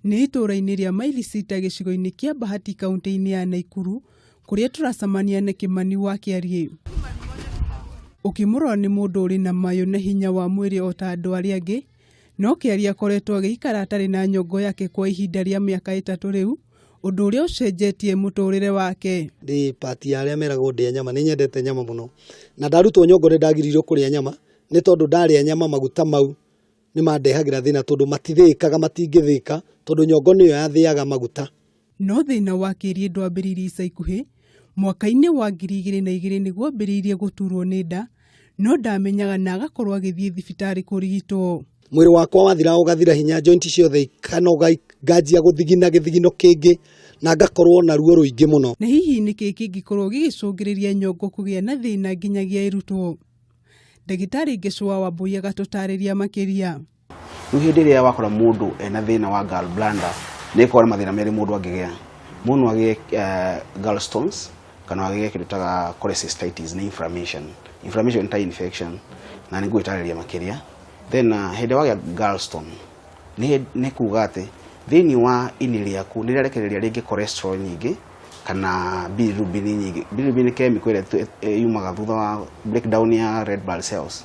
nĩ itũũra-inĩ rĩa mailisita gĩcigo-inĩ kĩa bahati kaunti-inĩ ya naikuru kũrĩa tũracemania na kĩmani wa kĩariĩ ũkĩmũrora nĩ mũndũ ũrĩ na mayũ na hinya wa mwĩrĩ o ta andũ arĩa angĩ No Kĩari akoretwo agĩikara atarĩ na nyongo yake kwa ihinda rĩa mĩaka ĩtatũ rĩu, ũndũ ũrĩa ũcenjetie mũtũrĩre wake. Ndĩ part ya arĩa meragwo ndĩe nyama, nĩ nyendete nyama mũno. Na ndarutwo nyongo nĩ ndagiririo kũrĩa nyama, nĩ tondũ ndarĩa nyama maguta mau nĩ mandehagĩra thĩna tondũ matithĩĩkaga, matingĩthĩĩka tondũ nyongo nĩyo yathĩaga maguta. No thĩna wa kĩriĩ ndwambĩrĩirie ica ikuhĩ, mwaka-inĩ wa ngiri igĩrĩ na igĩrĩ nĩguo ambĩrĩirie gũturwo nĩ nda no ndamenyaga na agakorwo agĩthiĩ thibitarĩ kũrigitwo. Mwĩrĩ wakwa wathiraga ũgathira hinya, joint ciothe ikanoga nganjia gũthigina gĩthigino kĩngĩ na ngakorwo na ruo rũingĩ mũno. Na hihi nĩ kĩĩ kĩngĩkorwo gĩgĩcũngĩrĩria nyongo kũgĩa na thĩna nginyagia ĩrutwo? Ndagĩtarĩ Ngeshũa Wambũi agatũtarĩria makĩria. Rĩu hĩndĩ ĩrĩa wakora mũndũ ena thĩna wa gall bladder nĩ ĩkoragwo na mathĩna merĩ mũndũ angĩgĩa. Mũndũ no agĩe eh, gall stones kana agĩe kĩndũ ta cholecystitis nĩ inflammation. Inflammation nĩ ta infection na nĩ ngũgĩtarĩria makĩria. Then uh, hĩndĩ ĩrĩa wagĩa gallstone nĩ hĩ- nĩ kuga atĩ thĩinĩ wa ini rĩaku nĩ rĩarekereria rĩngĩ cholesterol nyingĩ kana bilirubin nyingĩ. Bilirubin nĩ chemical ĩrĩa ĩtu- ĩ- yumaga thutha wa breakdown ya red blood cells.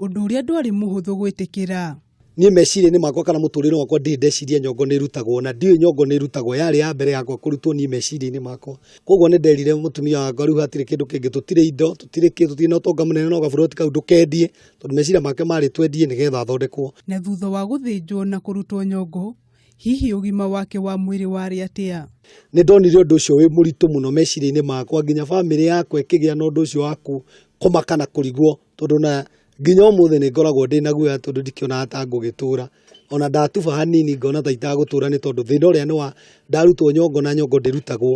ũndũ ũrĩa ndwarĩ mũhũthũ gwĩtĩkĩra. Niĩ meciria-inĩ makwa kana mũtũrĩre wakwa ndirĩ ndeciria nyongo nĩ ĩrutagwo na ndiũĩ nyongo nĩ ĩrutagwo, yarĩ ya mbere yakwa kũrutwo niĩ meciria-inĩ makwa. Koguo nĩ nderire mũtumia wakwa rĩu hatirĩ kĩndũ kĩngĩ, tũtirĩ indo, tũtirĩ kĩ, tũtirĩ na ũtonga mũnene no gaburoti kau ndũkendie, tondũ meciria make marĩ twendie nĩgetha thondekwo. Na thutha wa gũthĩnjwo na kũrutwo nyongo, Hihi ũgima wake wa mwĩrĩ warĩ atĩa? Nĩ ndonire ũndũ ũcio wĩ mũritũ mũno meciria-inĩ makwa, nginya famĩlĩ yakwa ĩkĩgĩa na ũndũ ũcio wa kũmaka na kũrigwo, tondũ ona nginya ũmũthĩ nĩ ngoragwo ndĩna guoya tondũ ndikĩonaga ta ngũgĩtũra. Ona ndatuba hanini ngona ta itagũtũra nĩ tondũ thĩna ũrĩa nĩ wa, ndarutwo nyongo na nyongo ndĩrutagwo.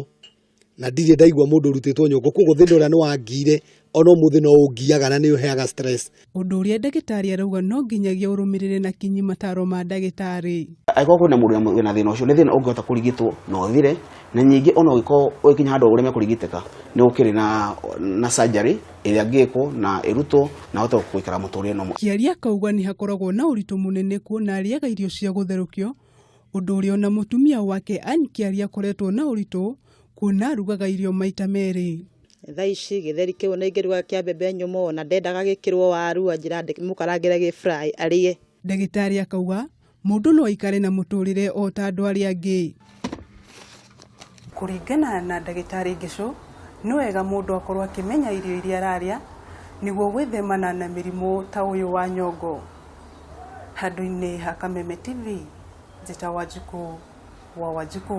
na ndirĩ ndaigua mũndũ ũrutĩtwo nyongo koguo thĩna ũrĩa nĩ wangiire ona ũmũthĩ no ũngiaga na nĩ ũheaga stress. Ũndũ ũrĩa ndagĩtarĩ arauga no nginyagia ũrũmĩrĩre na kinyi mataro ma ndagĩtarĩ. Angĩkorwo kwĩna mũndũ wĩna thĩna ũcio nĩ thĩna ũngĩhota kũrigitwo na ũthire, na ningĩ ona ũngĩkorwo ũgĩkinya handũ ũreme kũrigitĩka nĩ gũkĩrĩ na na surgery ĩrĩa ĩngĩkwo na ĩrutwo na ahote gũikara mũtũrĩre normal. Kĩarie akauga nĩ hakoragwo na ũritũ mũnene kuona arĩaga irio cia gũtherũkio, ũndũ ũrĩa ona mũtumia wake Ann Kĩari akoretwo na ũritũ kuona arugaga irio maita merĩ. Thaa ici gĩtheri kĩu ona ingĩruga kĩa mbembe nyũmũ ona ndendaga gĩkĩrwo waru anjĩra ndĩmũkarangĩre gĩ fry arĩe. Ndagĩtarĩ akauga mũndũ no aikare na mũtũrĩre o ta andũ arĩa angĩ. Kũringana na ndagĩtarĩ Ngĩcũ, nĩ wega mũndũ akorwo akĩmenya irio iria ararĩa nĩguo gwĩthemana na mĩrimũ ta ũyũ wa nyongo. Handũ-inĩ ha Kameme TV, Njĩta Wanjikũ wa Wanjikũ.